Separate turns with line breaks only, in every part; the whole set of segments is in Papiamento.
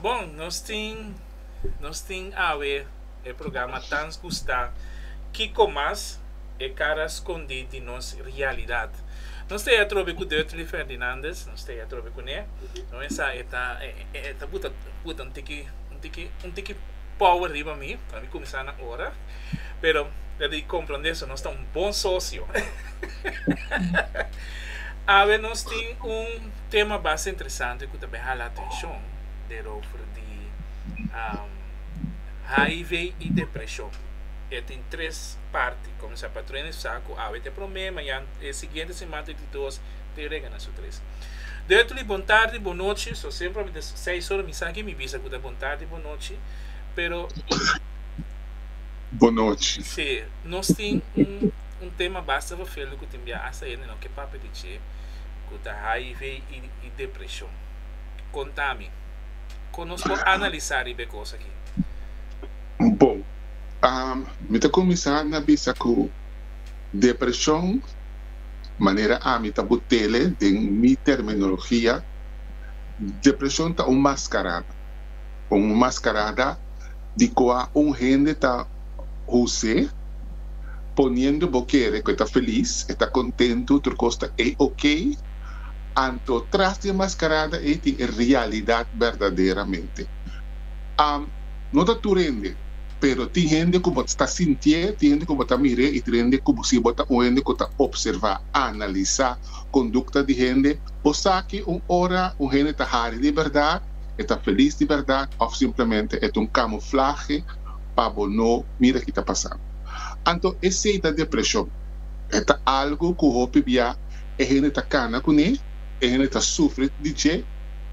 Bon, nos tin nos tin awe e programa Tans Gustá Kiko Mas e Kara Skondí di Nos Rialidad. Nos ta e atrobe ku Durtley Ferdinandez, nos ta e atrobe kuné. No mensá e ta e ta buta buta un tiki un tiki un tiki power riba mi pa mi kuminsá na ora, pero ta di komprondé so nos ta un bon socio. Awe nos tin un. Tema basta interesante cu ta bay hala atencion derover di hiv y depresion. E tin tres parti. Comensa pa trene su sa cu awe ta e prome, mayan e siguiente siman ta e di dos, tin rega na su tres. Dereto di bon tardi, bon nochi, so semper awe ta seis ora mi sa aki mi bisa cu ta bon tardi, bon nochi, pero Bon nochi. Si, nos tin un tema basta verveldo cu tin bia hasta ayer nino ke papia di dje. ku ta hiv i depreshon. Kon ta mi? Kon nos por analisá riba e kos aki? Bo, mi ta kuminsá na bisa ku depreshon, manera ami ta bo tele den mi terminologia, depreshon ta un maskarada. con un mascarada di cua un hende ta huse, poniendo bo kere cu e ta feliz, e ta contento, tur cos ta ey ok, anto tras di e mascarada ey tin e realidad verdaderamente. Am, no ta tur hende, pero tin hende cu bo ta sintie, tin hende cu bo ta mire y tin hende cu si bo ta un hende cu ta observa, analisa conducta di hende, bo sa cu un ora un hende ta hari di berdad, e ta felis di bèrdat òf simplemente e ta un kamuflahe pa bo no mira ki ta pasando. Anto esei ta depreshon. E ta algu ku hopi bia e hende ta kana kuné, e hende ta sufri di dje.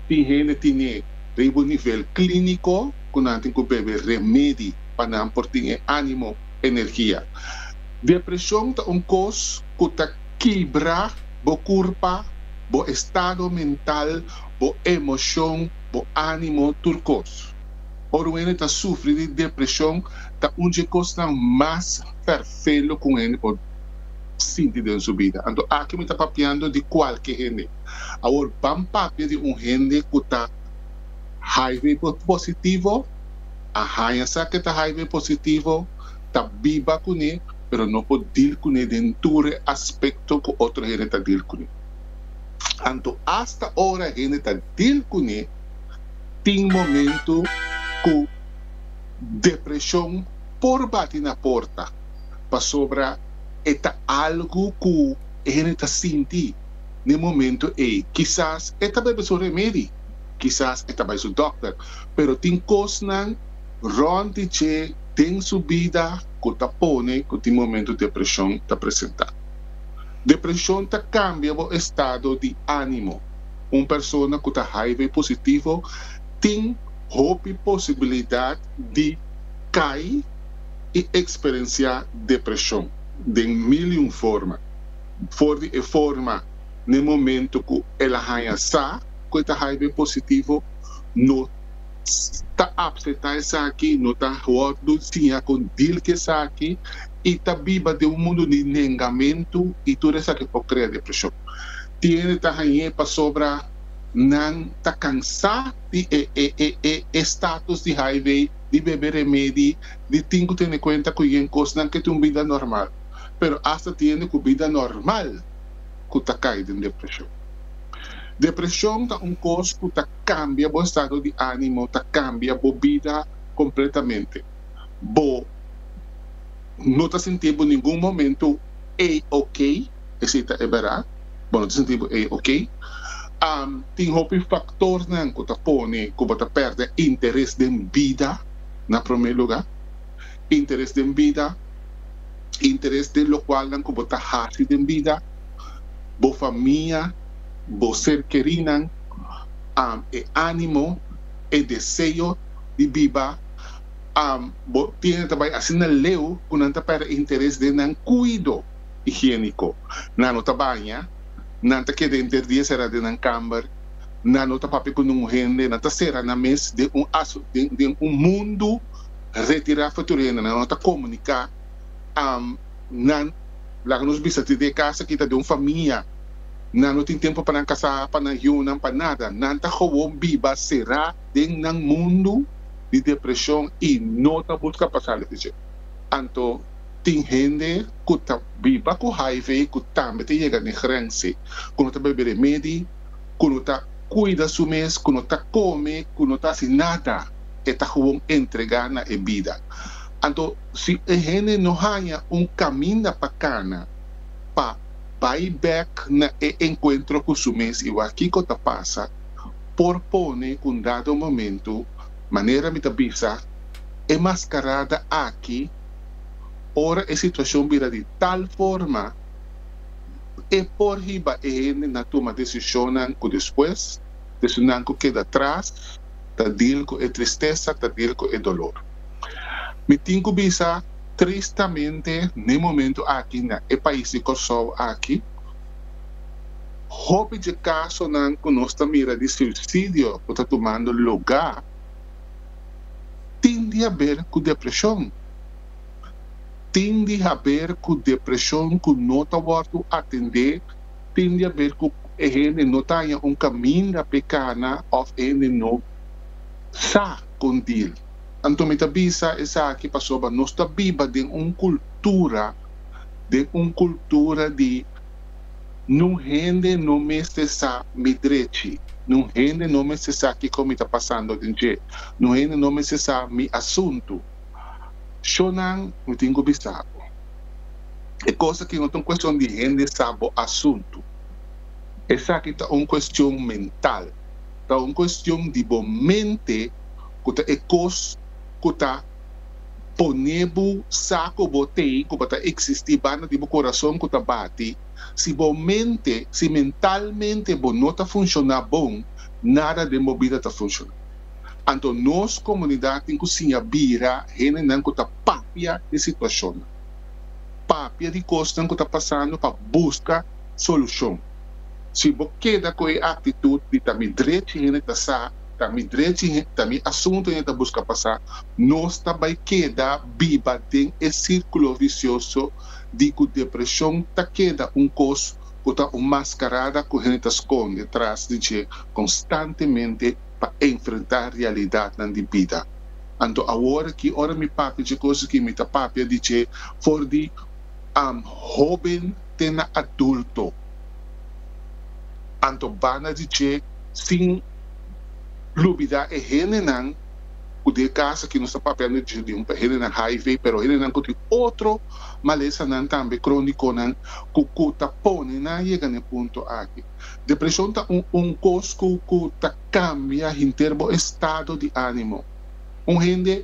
Tin hende tin'é riba un nivel klíniko ku nan tin ku bebe remedi pa nan por tin e ánimo, energia. Depreshon ta un kos ku ta kibra bo kurpa, bo estado mental. bo emocion, bo animo, tur cos. Ora un hende ta sufri di depresion ta un dje cosnan mas ferfelo cu un hende por sinti den su bida. Anto aki mi ta papiando di cualke hende. Awor ban papia di un hende cu ta hiv positivo, a haya sa ke ta hiv positivo, ta biba cune pero no por deal cune den tur e aspecto cu otro hende ta deal cune. Anto asta ora hende ta dil kuné, tin momentu ku depreshon por bati na porta, pasobra e ta algu ku e hende ta sinti den momentu ei. Kisas e ta bebe su remedi, kisas e ta bai su dòkter, pero tin kosnan rònt di dje den su bida ku ta pone ku tin momentu depreshon ta presentá. Depresion ta cambia bo estado di animo. Un persona cu ta hiv positivo tin hopi posibilidad di cay y experencia depresion den mil y un forma. For di e forma n'e momento cu el a haya sa cu e ta hiv positivo, no ta apseta esaki, no ta wordo siña con deal cu esaki, y ta biba den un mundo di nengamentu y tur esaki por crea depresion. Tiene ta hañ'é pasobra nan ta cansá di e e e e e status di HIV, di bebe remedi, di tin cu tene cuenta cu yen cos. Nan ke tin un bida normal, pero hasta tiene cu bida normal cu ta cay den depresion. Depresion ta un cos cu ta cambia bo estado di animo, ta cambia bo bida completamente. bo no ta sinti bo ningun momento ei okay, esei ta e bera, bo no ta sinti bo ei okay. Am tin hopi faktornan ku ta pone ku bo ta pèrdè interes den bida na promé lugá. Interes den bida, interes den lokualnan ku bo ta hasi den bida, bo famia, bo ser kerinan, am e ánimo, e deseo di biba. bo tiene ta bai asina leu cu nan ta perde interes den nan cuido higienico. Nan no ta baña, nan ta keda enter dia sera den nan camber, nan no ta papia cu nungun hende, nan ta sera nan mes den un den un mundu retira for tur di hende, nan no ta comunica. Nan, laga nos bisa tin e casa aki ta den un famia, nan no tin tempo pa nan casa, pa nan yunan, pa nada. Nan ta gewoon biba sera. den nan mundu di depresion y no ta busca pa sali di dje. Anto tin hende cu ta biba cu hiv cu tambe ta yega n'e grense cu no ta bebe remedi, cu no ta cuida su mes, cu no ta come, cu no ta haci nada, e ta gewoon entrega na e bida. Anto si e hende no haña un caminda pa cana pa bay bek na e encuentro cu su mes y wak kico ta pasa, por pone un dado momento manera mi ta bisa e mascarada aki ora e situacion bira di tal forma e por hiba e hende na tuma decisionnan cu despues decisionnan cu keda tras ta deal cu e tristeza ta deal cu e dolor. Mi tin cu bisa tristamente n'e momento aki na e pais di Corsou aki, Hopi dje kasonan ku nos ta mira di suisidio ku ta tumando lugá tin di haber ku depreshon. Tin di haber ku depreshon ku no ta wòrdu atendé, tin di haber ku e hende no ta haña un kaminda p'e kana òf e hende no sa kon dil. Anto mi ta bisa esaki pasobra nos ta biba den un kultura, den un kultura di nun hende no mester sa mi drechi, nun hende no mester sa kiko mi ta pasando den dje, nun hende no mester sa mi asuntu. Shonan, mi tin ku bisa bo, e kos aki no ta un kuestion di hende sa bo asuntu. Esaki ta un kuestion mental, ta un kuestion di bo mente ku ta e kos ku ta. pone bo sa ku bo tin ku bo ta eksistí banda di bo kurason ku ta bati. Si bo mente, si mentalmente bo no ta funshoná bon, nada den bo bida ta funshoná. Anto nos komunidat tin ku siña bira hendenan ku ta papia di situashonnan, papia di kosnan ku ta pasando pa buska solushon. Si bo keda ku e aktitut di ta mi drechi hende ta sa, ta mi drechi he, ta mi asuntu he ta buska pasa, nos ta bai keda biba den e sirkulo visioso di ku depreshon ta keda un kos ku ta un maskarada ku hende ta skonde tras di dje konstantemente pa enfrentá realidatnan di bida. Anto awor aki ora mi papia dje kos aki mi ta papia di dje for di am hóben te na adulto. Anto banda di dje, sin. lubida e hendenan ku den e kas aki nos ta papia no dje liun pa e hendenan hiv pero hendenan ku tin otro malesanan tambe krónikonan ku ku ta pone nan yega na e punto aki. Depreshon ta un un kos ku ku ta kambia henter bo estado di ánimo. Un hende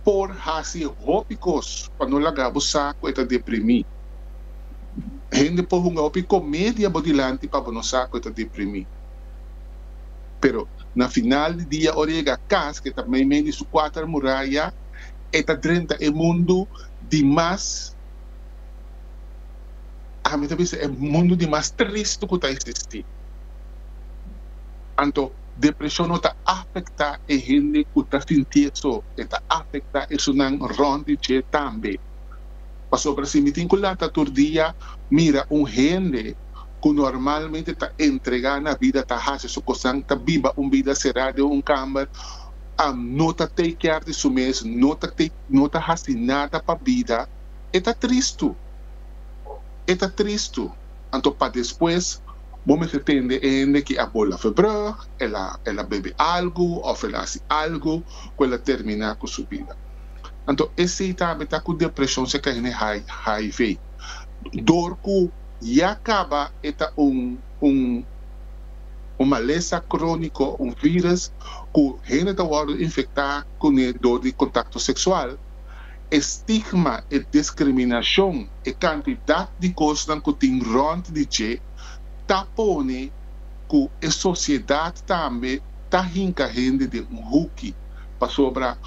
por hasi hopi kos pa no laga bo sa ku e ta deprimí. Hende por hunga hopi comedia bo dilanti pa bo no sa cu e ta deprimi. Pero na final di dia ora e yega cas cu e ta mei mei di su cuater muraya e ta drenta e mundo di mas, ha mi ta bisa e mundo di mas triste cu ta existi. Anto depresion no ta afecta e hende cu ta sinti eso, e ta afecta esunnan rond di dje tambe. Pasobra si mi tin ku lanta tur dia mira un hende ku normalmente ta entregá na bida, ta hasi su kosnan, ta biba un bida será den un kamber, am no ta take kièr di su mes, no ta take no ta hasi nada pa bida, e ta tristu. E ta tristu. Anto pa despues bo mester tende e hende ki a bola for brug, el a el a bebe algu òf el a hasi algu ku el a terminá ku su bida. Anto esei ta meta ku depreshon se kai na e HIV. Dor ku ya kaba e ta un un un malesa króniko, un vírus ku hende ta wòrdu infektá kuné dor di kontakto seksual. E stigma, e diskriminashon, e kantidat di kosnan ku tin rònt di dje ta pone ku e sosiedat tambe ta hinka hende den un huki. Pasobra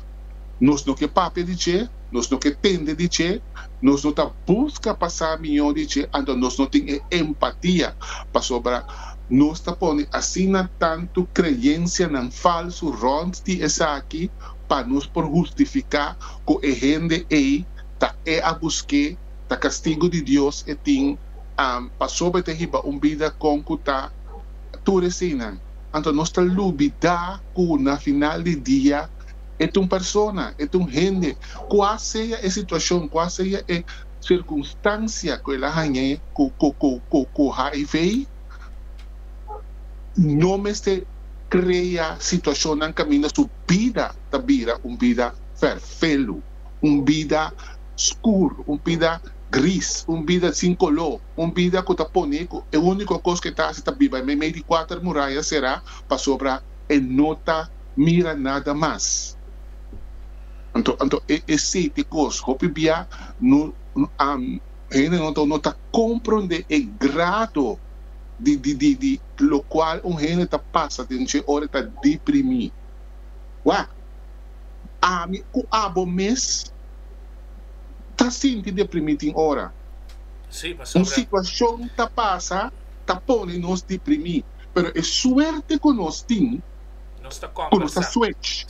nos no ke papia di dje, nos no ke tende di dje, nos no ta buska pa sa mihó di dje, anto nos no tin e empatia. Pasobra nos ta pone asina tantu kreyensianan falsu rònt di esaki pa nos por hustifiká ku e hende ei ta e a busk'é, ta kastigu di Dios e tin, pasobra e ta hiba un bida kon ku ta. tur eseinan. Anto nos ta lubidá ku na final di dia e ta un persona, e ta un hende, kua sea e situashon, kua sea e sirkunstansia ku el a hañ'é ku hiv, no mester krea situashonnan kaminda su bida ta bira un bida ferfelu, un bida skur, un bida gris, un bida sin koló. Un bida ku ta pone ku e úniko kos ku e ta hasi ta biba meimei di kuater muraya será pasobra e no ta mira nada mas. Anto, anto e e sete kos. Hopi bia no a hende no ta no ta komprondé e grado di di di di lokual un hende ta pasa den dje ora e ta deprimí. Wak, ami ku abo mes. ta sinti deprimí tin ora. Un situashon ta pasa ta pone nos deprimí, pero e suerte ku nos tin ku nos ta swech,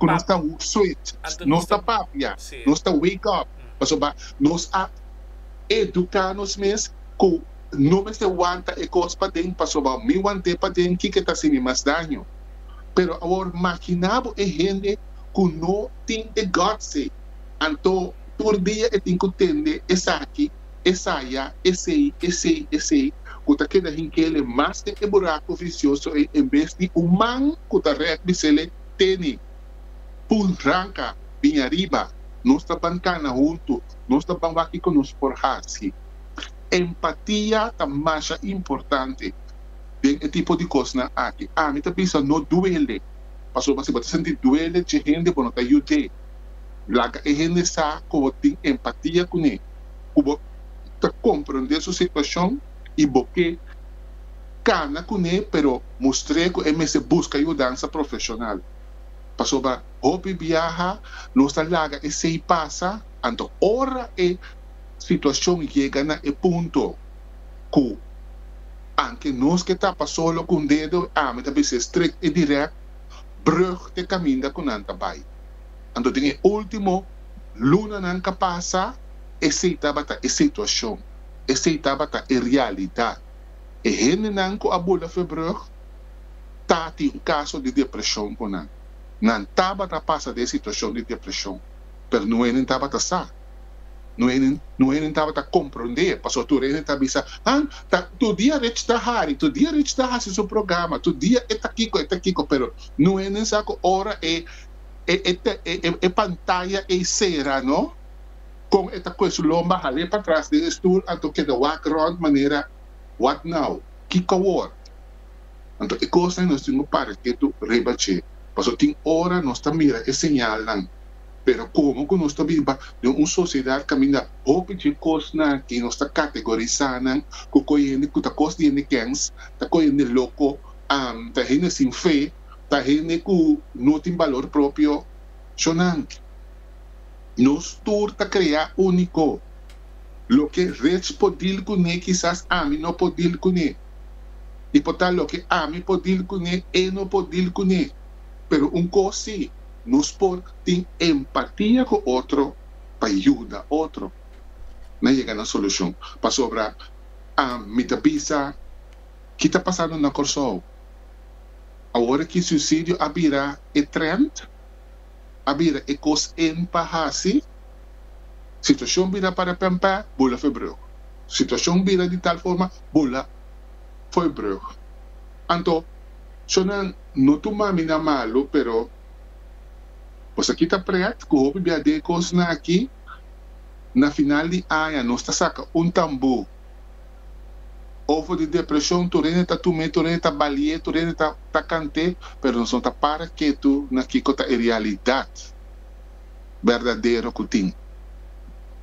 ku nos ta swech, nos ta papia, nos ta wake up, pasobra nos a eduká nos mes ku no mester wanta e kos paden, pasobra mi want'é paden kiko ta hasi mi mas daño. Pero awor, maginá bo e hende ku no tin e guts'é. Anto, tur dia e tin ku tende esaki, esaya, esei, esei, esei, ku ta keda hinkele mas den e burako visioso ei en bes di un man ku ta rèk bisele, Teni! Pul! Ranka! Bin ariba! Nos ta ban kana huntu! Nos ta ban wak kiko nos por hasi! Empatia ta masha importante den e tipo di kosnan aki. Ami ta bisa no duele, pasobra si bo ta sinti duele dje hende bo no ta yud'é. Laga e hende sa ku bo tin empatia kuné, ku bo ta komprondé su situashon i bo ke kana kuné pero mustr'é ku e mester buska yudansa profeshonal. Pasobra hopi biaha nos ta laga esei pasa, anto ora e situashon yega na e punto ku an ke nos ke tapa solo ku un dedo, ami ta bisa e strek i dirèk brùg te kaminda ku nan ta bai. Anto den e último lunanan k'a pasa, esei tabata e situashon, esei tabata e realidat. E hendenan ku a bula Verbrugge ta tin kaso di depreshon ku nan. Nan tabata pasa den e situashon di depreshon, pero no e nin tabata sa. Nu hende tabata komprondé, pasobra tur hende ta bisa, Han, tur dia Rich ta hari, tur dia Rich ta hasi su programa, tur dia e ta kiko, e ta kiko. Pero nu hende sa ku ora e pantaya ei sera, no? Kon e ta kohe su lomba hal'é patras den e stul, anto keda wak rònt manera, What now? Kiko awor? Anto e kosnan nos tin ku paresé tur riba dje, pasobra tin ora nos ta mira e señalnan. Pero komo ku nos ta biba den un sosiedat kaminda hopi dje kosnan i nos ta kategorisá nan ku kos hende ku ta kos di hende kèns, ta kos hende loko, ta hende sin fe, ta hende ku no tin balor propio, so nan nos tur ta krea úniko. Loke Rets por dil kuné kisas ami no por dil kuné. I por ta loke ami por dil kuné e no por dil kuné. Pero un kos sí. Nos por tin empatia ku otro pa yuda otro na yega na solushon. Pasobra mi ta bisa ki ta pasando na Kòrsou. Awor ki suisidio a bira e trènt, a bira e kos en pa hasi, situashon bira para pèmpè, bo la febreug. Situashon bira di tal forma, bo la foibrug. Anto, shò nan No tur mami na malu, pero Nos a kita prèt ku hopi bia de e kosnan aki. Na final di aña nos ta saka un tambú ofo di depreshon, tur hende ta tum'é, tur hende ta bali'é, tur hende ta kant'é, pero nos no ta para ketu na kiko ta e realidat. berdadero ku tin.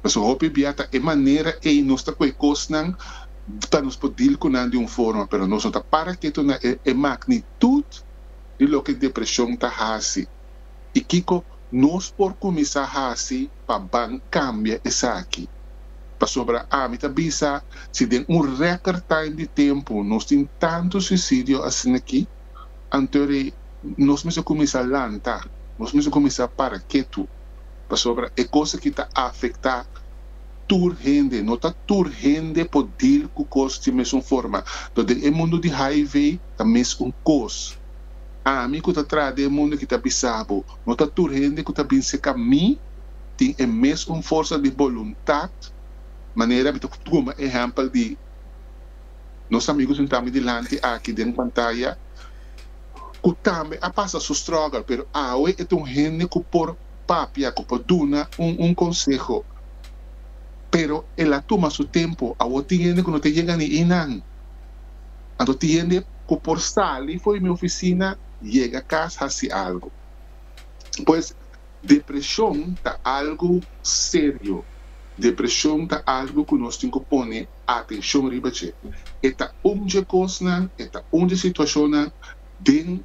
Pasobra hopi bia ta e manera ei nos ta ku e kosnan pa nos por dil ku nan di un forma, pero nos no ta para ketu na e magnitut di loke depreshon ta hasi i kiko nos por kuminsá hasi pa ban kambia esaki. Pasobra ami ta bisa si den un rèkèr time di tempu nos tin tantu suisidio asin'akí. Anto ri nos mester kuminsá lanta, nos mester kuminsá para ketu, pasobra e kos aki ta afektá tur hende. No ta tur hende por deal ku kos di mesun forma. Lo den e mundu di hiv ta mes un kos. Ami ku ta traha den e mundu aki ta bisa bo, no ta tur hende ku ta bin serka mi tin e mes un forsa di boluntat manera mi ta kuma ehèmpel di. nos amigu den tambe dilanti aki den pantaya cu tambe a pasa su struggle pero awe e ta un hende cu por papia, cu por duna un conseho pero el a tuma su tempo, awor tin hende cu no ta yega ni einan anto tin hende cu por sali fo'i mi oficina yega cas haci algo pues depresion ta algo serio, depresion ta algo cu nos tin cu pone. atenshon riba dje. E ta un dje kosnan, e ta un dje situashonnan den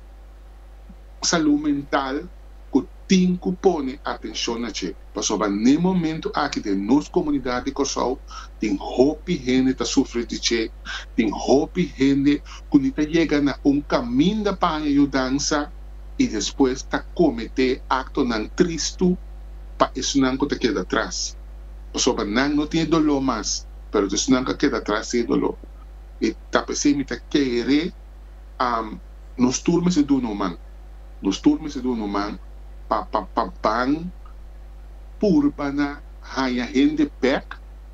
salú mental ku tin ku pone atenshon na dje. Pasobra n'e momentu aki den nos komunidat di Kòrsou tin hopi hende ta sufri di dje, tin hopi hende ku ni ta yega na un kaminda paña yudansa i despues ta kometé aktonan tristu pa esunnan ku ta keda tras. pasobra nan no tin e doló mas, pero dus nan ka keda atras di e doló. I ta p'esei mi ta kere am nos tur mester duna un man, nos tur mester duna un man pa pa pa ban purba na haña hende bèk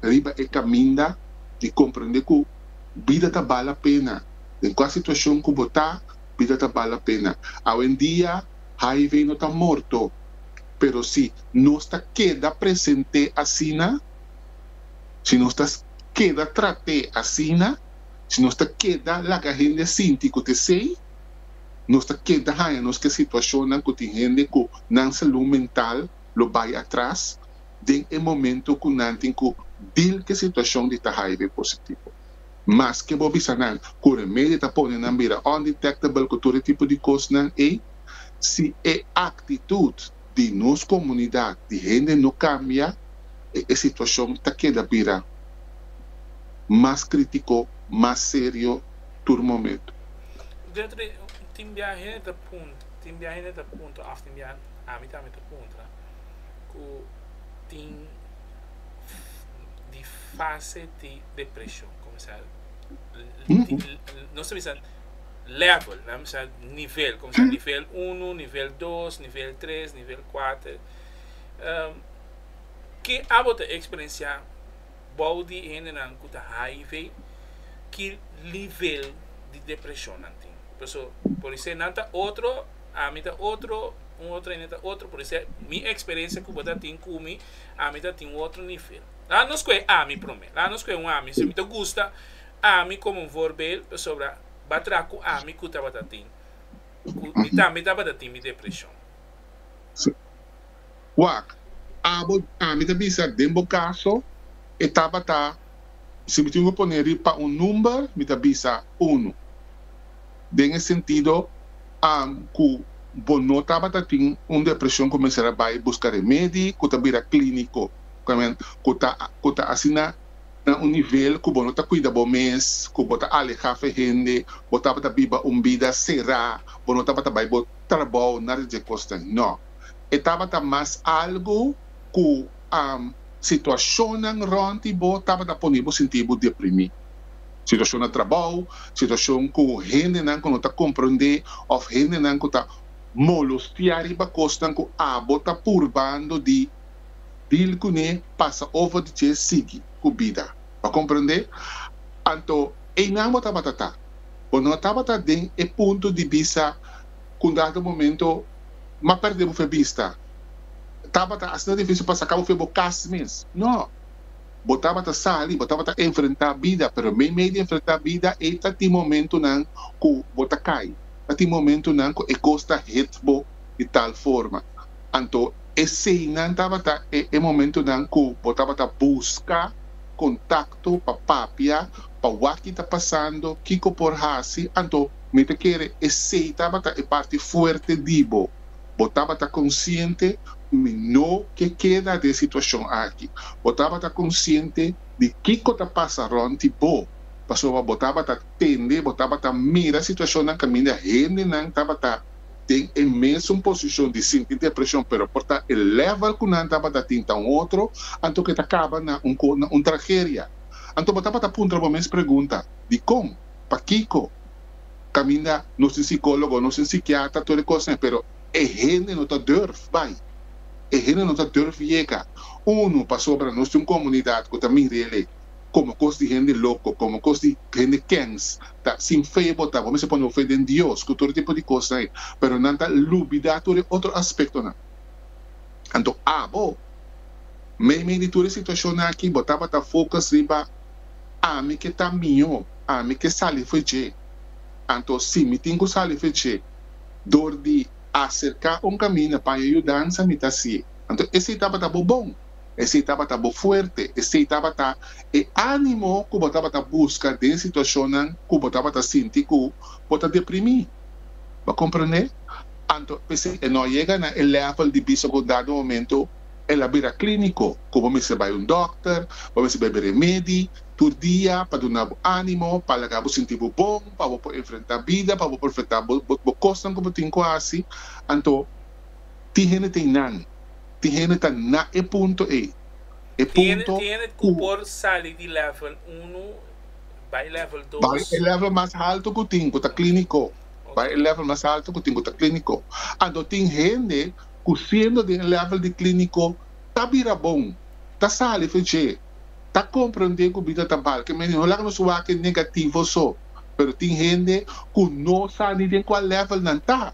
riba e kaminda di komprendé ku bida ta bala pena. Den kua situashon ku bo ta, bida ta bala pena. Awendia, HIV no ta morto. Pero si nos ta keda presente asina, si nos ta keda trat'é asina, si nos ta keda laga hende sinti ku ta esei, nos ta keda haña nos ke situashonnan ku tin hende ku nan salú mental lo bai atras den e momentu ku nan tin ku dil ku e situashon di ta hiv positivo. Maske bo bisa nan ku remedio ta pone nan bira undetectable ku tur e tipo di kosnan ei, si e aktitut di nos komunidat di hende no kambia, e situashon ta keda bira mas krítiko, mas serio tur momentu. Gertrude, tin biaha hende ta puntra, tin biaha hende ta puntra òf tin biaha ami tambe ta puntra ku tin di fase di. depreshon kuminsá nos ta bisa lèvel nan bisa nivel kuminsá nivel unu nivel dos nivel tres nivel kuater ke abo ta eksperensiá bou di e hendenan ku ta hiv ki nivel di depreshon nan tin paso por isei nan ta otro ami ta otro un otro hende ta otro por isei mi eksperensia ku bo ta tin ku mi ami ta tin otro nivel. Laat nos koe ami prome. Laat nos koe un ami si mi ta gusta ami komo un voorbeeld pasobra ba traha ku ami ku tabata tin ku mi tambe tabata tin mi depreshon. Si. Wak, abo ami ta bisa den bo kaso e tabata si mi tin ku pone riba pa un number mi ta bisa unu. Den e sentido am ku bo no tabata tin un depreshon ku mester a bai buska remedi ku ta bira klíniko. Amen. Ku ta ku ta asina na un nivel ku bo no ta kuida bo mes, ku bo ta alehá fen hende, bo tabata biba un bida será, bo no tabata bai bo trabou, nada di dje kosnan. No. E tabata mas algu ku situashonnan rònt di bo tabata pone bo sinti bo deprimí. Situashon na trabou, situashon ku hendenan ku no ta komprondé òf hendenan ku ta molostiá riba kosnan ku abo ta purbando di. Dil kuné pasa over di dje sigui ku bida. Bo komprendé? Anto einan bo tabata ta. Bo no tabata den e punto di bisa ku un dado momento m'a pèrdè bo fe bista. Tabata asina difísil pa saka bo fe bo kas mes. No. Bo tabata sali, bo tabata enfrentá bida, pero mei mei di enfrentá bida ei ta tin momentunan ku bo ta kai. Ta tin momentunan ku e kos ta hit bo di tal forma. Anto eseinan tabata e e momentunan ku bo tabata buska kontakto pa papia pa wak-ki ta pasando, kiko por hasi. Anto mi ta kere esei tabata e parti fuerte di bo. Bo tabata konsiente mi no ke keda den e situashon aki. Bo tabata konsiente di kiko ta pasa rònt di bo, pasobra bo tabata tende, bo tabata mira situashonnan kaminda hendenan tabata. den e mesun posishon di sinti depreshon pero por ta e lèvel ku nan tabata tin ta un otro, anto ke ta kaba na un ko na un trageria. Anto bo tabata puntra bo mes pregunta, Dikon? Pakiko? Kaminda nos tin sikólogo, nos tin sikiatra, tur e kosnan pero e hende no ta durf bai. E hende no ta durf yega. Unu, pasobra nos tin un komunidat ku ta mir'el e. como cos di hende loco, como cos di hende kens ta sin fe bo ta, bo mester pone bo fe den Dios cu tur e tipo di cosnan ey, pero nan ta lubida tur e otro aspectonan. Anto abo, meimei di tur e situacionnan aki, bo tabata focus riba ami ke ta miho, ami ke sali fe dje. Anto si mi tin cu sali fe dje door di acerca un caminda, paña yudanza mi ta hacié. Anto esey tabata bo bon. Esei tabata bo fuerte. Esei tabata e ánimo ku bo tabata buska den situashonnan ku bo tabata sinti ku bo ta deprimí. Bo komprendé? Anto p'esei e no yega na e lèvel di bisa ku un dado momentu el a bira klíniko, ku bo mester bai un dòkter, bo mester bebe remedi tur dia pa duna bo ánimo, pa laga bo sinti bo bon, pa bo por enfrentá bida, pa bo por enfrentá bo kosnan ku bo tin ku hasi. Anto tin hende tin nan. Tin hende ta na e punto ey. E punto Tin hende cu por sali di level uno bay level dos. Bay e level mas halto cu tin, cu ta clinico. Bay e level mas halto cu tin, cu ta clinico. Anto tin hende cu siendo den e level di clinico ta bira bon, ta sali fe dje, ta comprende cu bida ta mal. Kemey no laga nos wak e negativo so. Pero tin hende cu no sa ni den cual level nan ta.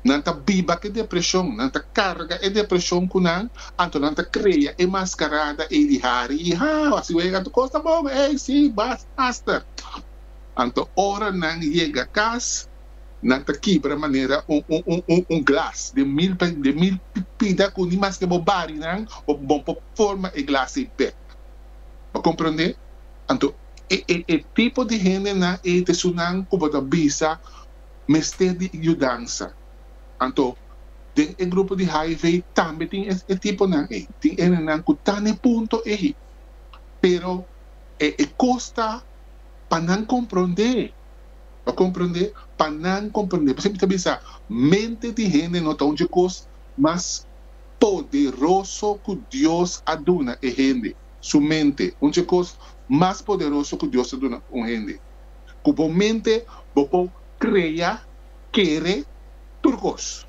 Nan ta biba ku e depreshon, nan ta karga e depreshon ku nan, anto nan ta krea e maskarada ei di hari i hau, a siwei anto kos ta bon, ei si, bas, asta. Anto ora nan yega kas, nan ta kibra manera un un un un un glas den mil pe den mil pida ku ni maske bo bari nan bo bon por forma e glas ei bek. Bo komprondé? Anto e e e tipo di hendenan ei ta esunnan ku bo ta bisa, mester di yudansa. Anto, den e grupo di hiv tambe tin e tiponan ei. Tin enenan ku ta na e punto ei, pero e kosta pa nan komprondé. Bo komprondé? Pa nan komprondé. Bo siempre ta bisa, mente di hende no ta un djekos mas poderoso ku Dios a duna e hende. Su mente, un djekos mas poderoso ku Dios a duna un hende. ku bo mente bo por krea, kere, tur kos.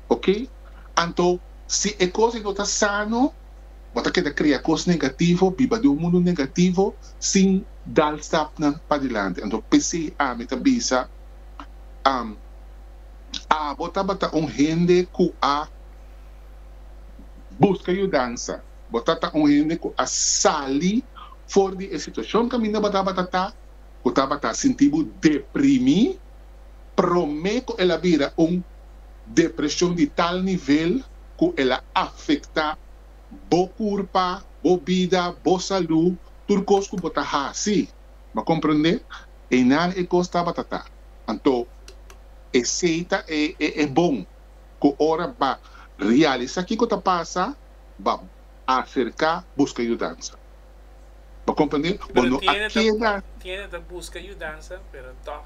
Oke, anto si e kos ei no ta sano, bo ta keda krea kos negativo, biba den un mundu negativo sin dal stapnan padilanti. Anto p'esei ami ta bisa, am, abo tabata un hende ku a buska yudansa. Bo tata un hende ku a sali for di e situashon kaminda bo tabata ta, ku tabata sinti bo deprimí promé ku el a bira un depreshon di tal nivel ku el a afektá bo kurpa, bo bida, bo salú, tur kos ku bo ta hasi. Bo a komprendé? Einan e kos tabata ta. Anto, esei ta e bon ku ora b'a realisá kiko ta pasa. ba acerca busca yudansa. Bo comprende? Bo no a keda. Tiende ta busca yudansa pero tog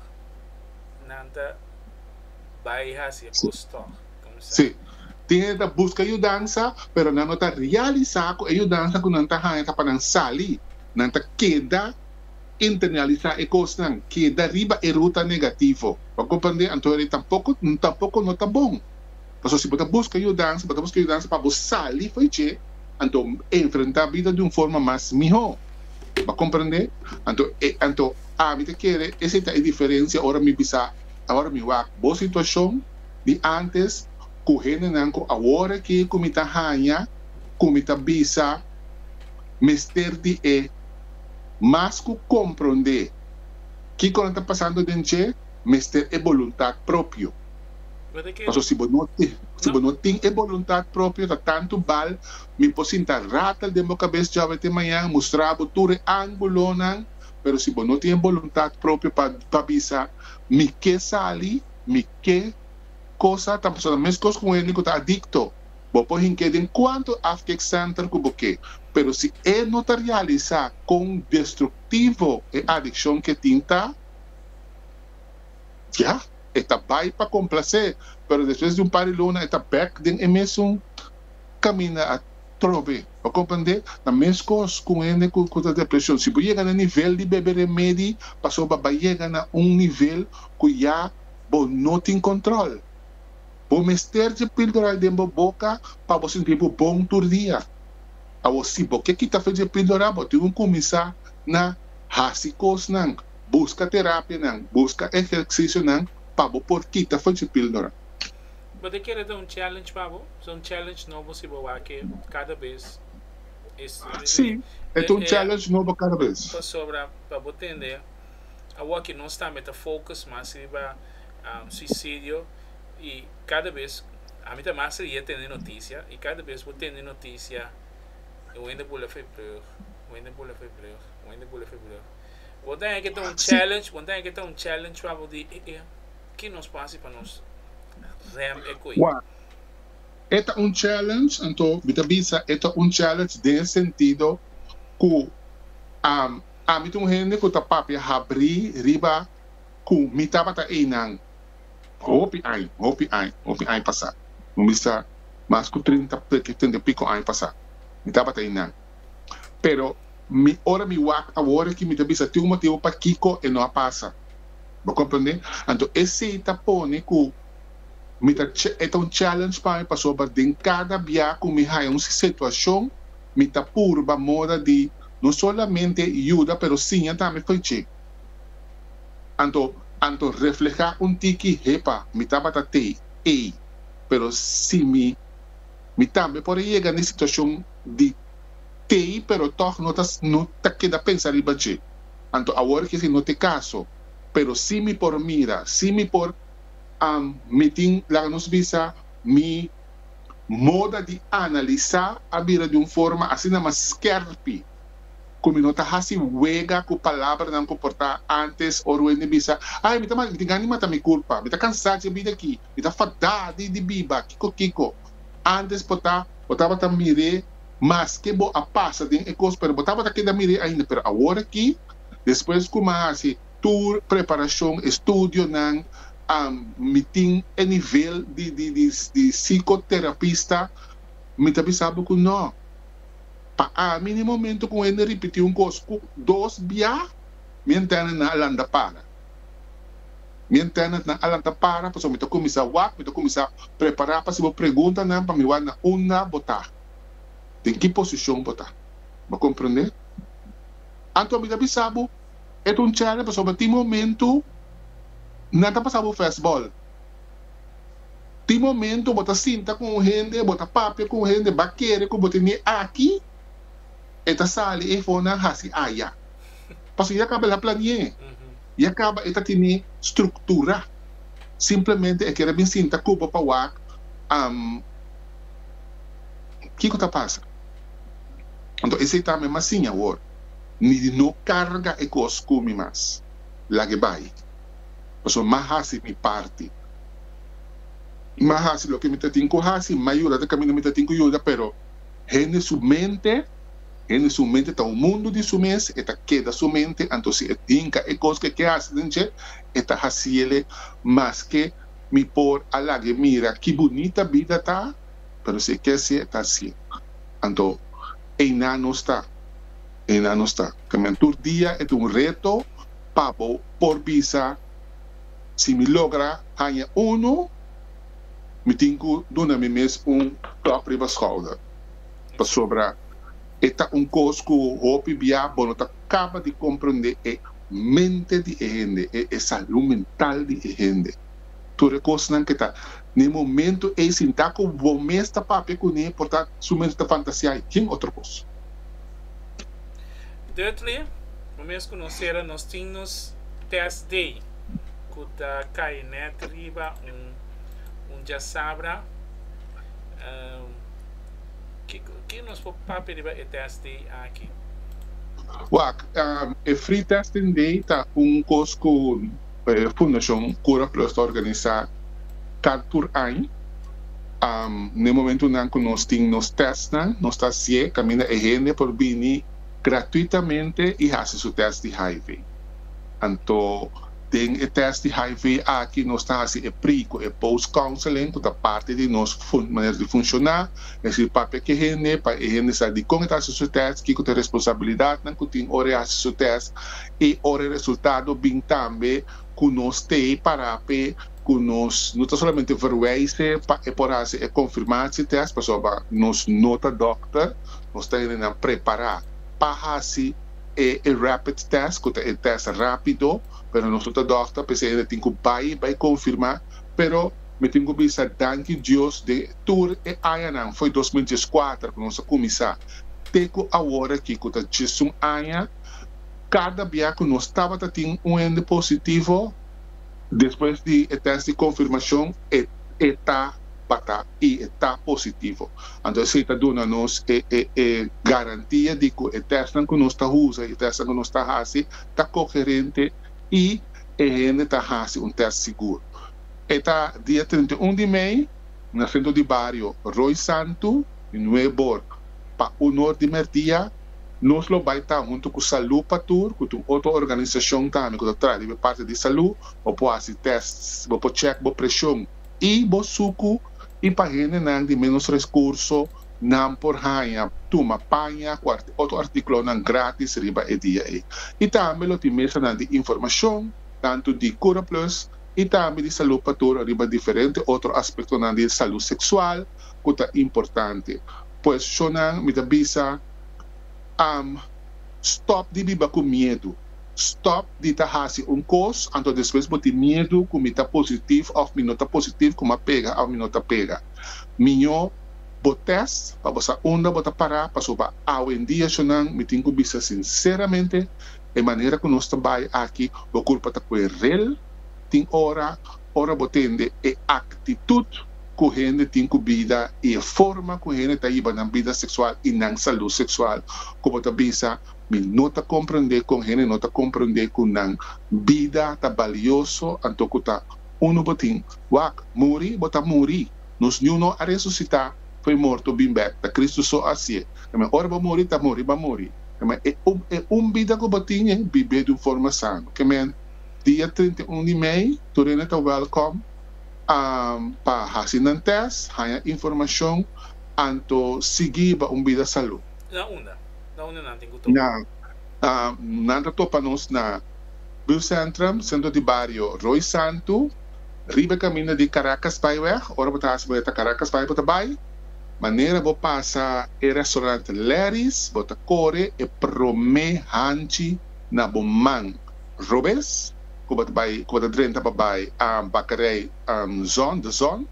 nan ta bay haci e cos tog. Si, tiende ta busca yudansa pero nan no ta realisa cu e yudansa cu nan ta haya ta pa nan sali. Nan ta keda internalisa e cosnan, keda riba e ruta negativo. Bo a comprende? Anto e tampoco, tampoco no ta bon. Pasobra si bo ta busca yudansa, bo ta busca yudansa pa bo sali fo'i dje, anto enfrenta bida di un forma mas miho. Bo a comprende? Anto, e, anto ami ta kere esei ta e diferencia ora mi bisa, Awor mi wak bo situacion di antes cu hendenan cu awor aki cu mi ta hanja, cu mi ta bisa mester di e mas cu comprende kico nan ta pasando den dje, mester e boluntad propio. Paso si bo no si bo no tin e boluntat propio ta tantu bal mi por sinta ratel den bo kabes djòbe te mañan mustra bo tur e ángulonan pero si bo no tin e boluntat propio pa pa bisa mi ke sali mi ke cosa ta paso ta meskos ku un hende ku ta adikto bo por hink'é den kuantu afkeksenter ku bo ke pero si e no ta realisá kon destruktivo e adikshon ke tin ta ya. E ta bai pa complacé, pero despues di un par di luna e ta bek den e mesun caminda a trobe. Bo comprendé? Ta mescos cu un hende cu ta depresion. Si bo yega na nivel di bebe remedi, pasobra bo a bai yega na un nivel cu ya bo no tin control. Bo mester dje pildoral den bo boca pa bo sinti bo bon tur dia. Awor si bo ke kita fe dje pildoral, bo tin cu cuminsa na haci cosnan. buska terapianan, buska ehercisionan pa bo por kita for dje pildora. Bo ta kere ta un challenge pa bo? Sa un challenge nobo si bo wak-e kada bes es Si, e ta un challenge nobo kada bes. Pasobra pa bo tende, awoki nos tambe ta focus mas riba suicidio y kada bes, ami ta mas rie tende noticia y kada bes bo tende noticia, wende boule vrijbrug, wende boule vrijbrug, wende boule vrijbrug. Bo ta heke ta un challenge, bo ta heke ta un challenge pa bo di, e, e, ki nos por hasi pa nos rem e koe? Wak, e ta un challenge, anto mi ta bisa e ta un challenge den e sentido ku am, ami ta un hende ku ta papia habri riba ku mi tabata einan hopi aña, hopi aña, hopi aña pasá. Bo bisa mas ku trinta, treinta i piko aña pasá mi tabata einan. pero mi ora mi wak awor aki mi ta bisa tin un motibu pakiko e no a pasa, bo comprende? Anto esei ta pone ku mi ta e ta un challenge pa mi pasobra den kada bia ku mi haya un situashon mi ta purba mora di no solamente yuda pero siña tambe for dje anto anto refleha un tiki hepa mi tabata te ei pero si mi Mi tambe por a yega na e situacion di tei pero tog no ta no ta keda pensa riba dje. Anto awor kiki no ta e caso pero si mi por mira, si mi por am mi tin laga nos bisa mi moda di analisa a bira di un forma asina mas skerpi cu mi no ta haci wega cu palabranan cu por ta antes ora wen mi bisa ay mi ta mal mi tin anima ta mi culpa mi ta cansa dje bida aki Mi ta fadá di di biba. Kiko kiko? Antes bo ta, bo tabata mir'é maske bo a pasa den e kos pero bo tabata keda mir'é ainda pero awor aki despues ku mi a hasi tur preparashon, estudionan, mi tin e nivel di di di di sikoterapista, mi ta bisa bo ku nò. Pa ami n'e momento ku hende ripití un kos ku dos bia mi a ntende nan a landa para. Mi antènanan a lanta para, pasobra mi ta kuminsá wak, mi ta kuminsá prepará pa hasibo preguntanan pa mi wòrdu na unda bo ta, den ki posishon bo ta. Bo komprendé? Anto mi ta bisa bo, e ta un chèlè pasobra tin momentu nan ta pasa bo fèstbòl. Tin momentu bo ta sinta ku un hende, bo ta papia ku un hende, bo a kere ku bo tenié aki, e ta sali ei for nan hasi aya. Pasobra ya kaba el a plani'é, ya kaba e ta tene struktura. Simplemente e kere bin sinta ku bo pa wak am kiko ta pasa. Anto esei ta mi mas sin awor, ni di no karga e kos ku mi mas. Lag'é bai, pasobra m'a hasi mi parti. M'a hasi loke mi ta tin ku hasi, m'a yuda ta kaminda mi ta tin ku yuda, pero hende su mente. Hende su mente ta un mundu di su mes, e ta keda su mente, anto si e hinka e kos ku e ke hasi den dje, e ta hasi ele. Maske mi por a laga e mira ki bunita bida ta, pero si e ke hasié, e ta hasié. Anto, einan no sta, einan no sta. También tur dia e ta un reto pa bo por bisa, Si mi logra haña unu, mi tin ku duna mi mes un klòp riba skouder. pasobra e ta un kos ku hopi bia bo no ta kaba di komprendé e mente di e hende, e e salú mental di e hende. Tur e kosnan ku e ta na e momentu ei sin ta ku bo mes ta papia kuné por ta sumente ta fantasiá i ken otro kos. Dudley, Un mes ku nos sera nos tin nos test day ku ta kai nèt riba un un djasabra. Ki nos por papia riba e test day aki? Wak, e Free Testing Day ta un kos ku e Fundashon Cura Plus ta organisá kard tur aña. Na e momentunan ku nos tin nos testnan, nos ta hasié kaminda e hende por bini gratuitamente i hasi su test di hiv. Anto. Den e test di hiv aki nos ta hasi e pre cu e post counseling cu ta parti di nos manera di funciona, es ir papia cu e hende pa e hende sa dicon e ta hasi su test, kico ta e responsabilidadnan cu tin ora e hasi su test y ora e resultado bin tambe cu nos te para p'e cu nos no ta solamente verwijze pa e por hasi e confirmatie test pasobra nos no ta dokter, nos ta hendenan prepara pa hasi. e e rapid test cu ta e test rapido pero nos no ta dokter pesey anda tin cu bay bay confirma pero mi tin cu bisa danki Dios den tur e añanan foy dos mil dieskuater cu nos a cuminsa te cu awor aki cu ta diesun aña cada bia cu nos tabata tin un hende positivo Despues di e tèst di konfirmashon e e ta batá i e ta positivo. Anto esei ta duna nos e e e garantia di ku e tèstnan ku nos ta usa i e tèstnan ku nos ta hasi ta koherente i e hende ta hasi un tèst sigur. E ta dia trinta i un di mei na sentro di bario Roy Santu di Nueborg pa onor di Mertia. Nos lo bai ta huntu ku Salú pa Tur, ku ta un otro organisashon tambe ku ta traha riba e parti di salú. Bo por hasi tests, bo por chèk bo preshon i bo suku. I pa hendenan di ménos reskurso, nan por haña tuma paña ku otro artíkulonan grátis riba e dia ei. I tambe lo tin mesanan di informashon, tantu di Curaplus i tambe di Salú pa Tur riba diferente otro aspektonan di salú seksual, ku ta importante. Pues chonan mi ta bisa am stop di biba ku miedu, stop di ta hasi un kos anto despues bo tin miedu ku mi ta positif of mi no ta positif ku mi a pega of mi no ta pega. Miño bo test pa bo sa unda bo ta para pasobra awendia chonan mi tin ku bisa sinseramente e manera ku nos ta bai aki bo kurpa ta kue rel tin ora ora bo tende e aktitut ku hende tin ku bida i e forma ku hende ta hiba nan bida seksual i nan salú seksual ku bo ta bisa, Mi no ta komprendé kon hende no ta komprendé ku nan bida ta balioso anto ku ta unu bo tin wak. Muri bo ta muri. Nos niu no a resusitá, for e morto bin bèk, ta Kristu so a hasié. Promé ora bo muri ta muri bo a muri. Promé e un bida ku bo tin e bib'é di un forma sano. Ke men dia trinta i un di mei tur hende ta wèlkòm. pa hasi nan tèst, haña informashon anto sigui ba un bida salú. Na unda? Na unda nan tin ku topa? Nan ta topa nos na Buurtcentrum, Centro di Barrio Roy Santu, riba kaminda di Caracas Byweg. Ora bo ta hasi boleta Caracas Byweg, bo ta bai manera bo pasa e restaurant Larry's, bo ta kore e promé hanchi na bo man robes. ku bo ta bai ku bo ta drenta pa bai Bakarei Zon de Zon.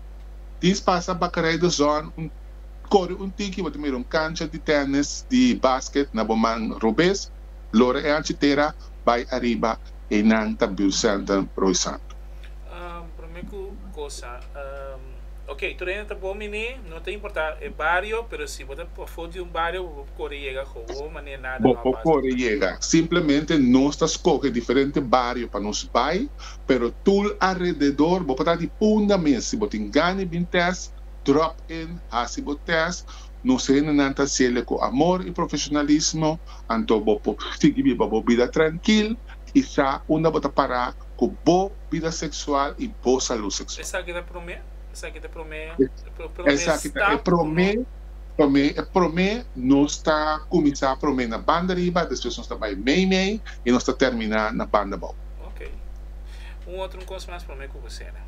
Dins pasa Bakarei de Zon un kore un tiki bo ta mira un kancha di tènis di basket na bo man robes lora e anchi tera bai ariba einan ta Buurcenter Rooi Santu. Prome ku kosa. Ok, tur hende ta bon biní, no ta importá e bario, pero si bo ta pafó di un bario, bo por kore yega gou-gou manera nada no a pasa. Bo por kore yega. Simplemente nos ta skohe diferente bario pa nos bai, pero tul arededor, bo por ta di punda mes. Si bo tin gani bin tèst, drop in, hasi bo tèst. Nos hendenan ta hasiel'e ku amor i profeshonalismo, anto bo por sigui biba bo bida trankil i sa unda bo ta pará. ku bo bida seksual i bo salú seksual. Esaki ta promé, esaki ta promé, promé stap. Esaki ta e promé, promé, e promé, nos ta kuminsá promé na banda riba, despues nos ta bai mei mei i nos ta terminá na banda bou. Ok. Un otro un kos mas promé ku bo sera.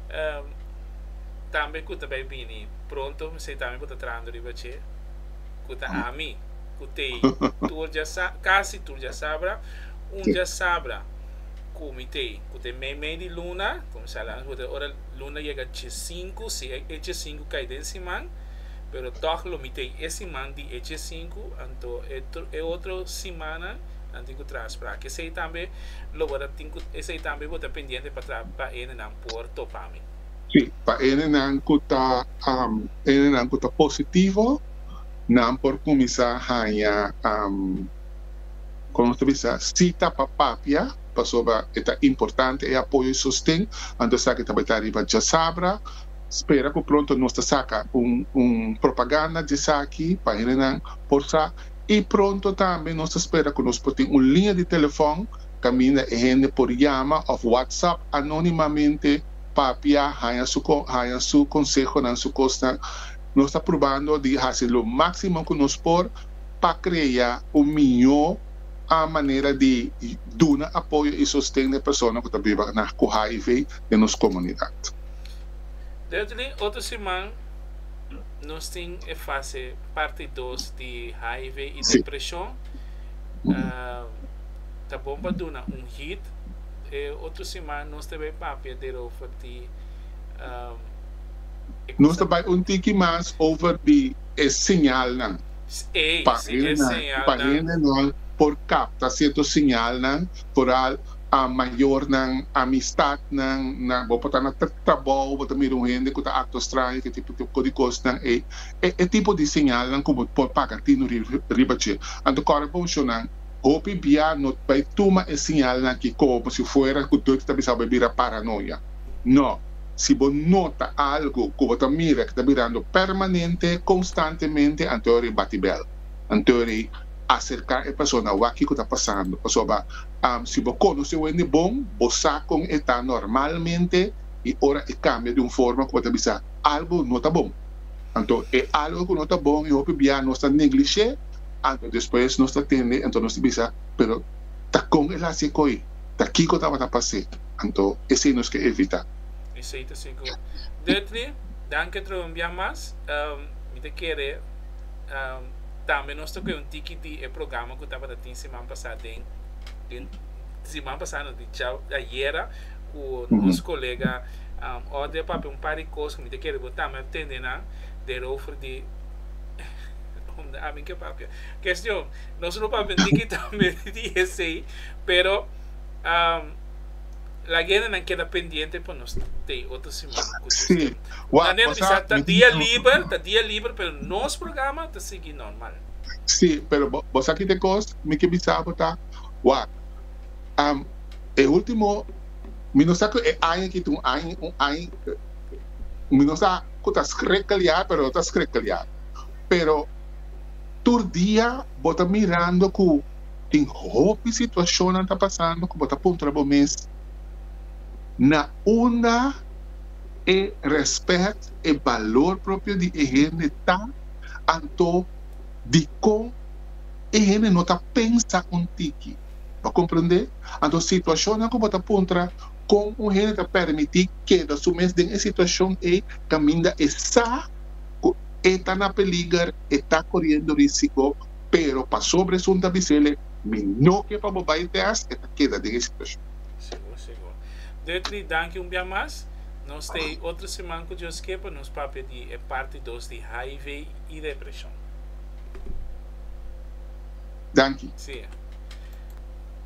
Ehm, tambe ku ta bai bini pronto, mesei tambe bo ta trahando riba dje, ku ta ami, ku Tei. Tur dja sa, kasi tur dja sabra. un diasabra cu mi te cu te mei mei di luna, comensá lana cu te ora luna yega chesinku, si e e chesinku cai den siman, pero tog lo mi te e siman di e chesinku, anto e e otro simannan nan tin cu traha sprake. Esey tambe lo bo ta tin cu, esey tambe bo ta pendiente pa traha pa ene nan por topa mi. Sí, pa ene nan cu ta, am, ene nan cu ta positivo, nan por cuminsa haña, am, Kon lo ta bisa sí ta pa papia? Pasobra e ta importante e apoyo i sosten, anto esaki e ta bai ta ariba djasabra. Spera ku pronto nos ta saka un propaganda di esaki pa hendenan por sa. I pronto tambe nos ta spera ku nos por tin un liña di telefòn kaminda e hende por yama òf whatsapp anónimamente, papia, haña su konsehonan, su kosnan. Nos ta probando di hasi lo máksimo ku nos por. pa krea un miñó a manera di duna apoyo i sosten na e persona ku ta biba na ku hiv den nos komunidat. Dentro di otro siman nos tin e fase parti dos di hiv i depreshon. Ta bon pa duna un hit. E otro siman nos ta bai papia derover di e kosa. Nos ta bai un tiki mas over di. e señalnan pa hendenan por kapta sierto señalnan, foral mayornan, amistatnan, bo por ta na trabou bo ta mira un hende ku ta aktua straño ke tipo tipo di kosnan ei. E tipo di señalnan ku bo por paga tinu riba dje. Anto kòrda pa un shonnan, hopi bia no ta bai tuma e señalnan aki komo si fuera ku dor ta bisa bo e bira paranoia. No. Si bo nota algu ku bo ta mira ku ta birando permanente, konstantemente, anto ora i bati bèl. Anto ora i aserká e persona, wak kiko ta pasando. Pasobra si bo konosé wende bon, bo sa kon e ta normalmente i ora e kambia di un forma ku bo ta bisa algu no ta bon. Anto e algu ku no ta bon i hopi biaha nos ta neglish'é, anto despues nos ta tende, anto nos ta bisa, pero ta kon el hasi e koi? ta kiko tabata pas'é, anto esei nos ke evitá. Esei ta sigur. Duttley, danki otro un bia mas. Mi ta kere tambe nos ta kohe un tiki di e programa ku tabata tin siman pasá den, den siman pasá no, di djau ayera ku nos kolega Audrey papia un par di kos ku mi ta kere bo tambe atende nan derover di, unda ami ke papia. Kestion. Nos no papia niki tambe di esei, pero lagendanan keda pendiente pa nos tei otro siman ku Dios tem. Manera di bisa ta dia liber, ta dia liber pero nos programa ta sigui normal. Sí, pero bo sa kiko e kos mi ke bisa bo ta, wak, e ultimo, mi no sa ku e aña aki ta un aña, un aña, mi no sa ku ta skrekeliá pero lo ta skrekeliá, pero. Tur dia bo ta mirando ku tin hopi situashonnan ta pasando ku bo ta puntra bo mes, Na unda e rèspèt, e balor propio di e hende ta, anto dikon e hende no ta pensa un tiki? Bo a komprendé? Anto situashonnan ku bo ta puntra kon un hende ta pèrmití keda su mes den e situashon ei kaminda e sa, cu e ta na peliger, e ta coriendo risico, pero pasobra esun ta bisele, Mi no ke pa bo bay test, e ta keda den e situacion. Segur, segur. Dutry, danki un bia mas. Nos ta ey otro siman cu Dios ke pa nos papia di e parti dos di hiv y depresion. Danki. Sia.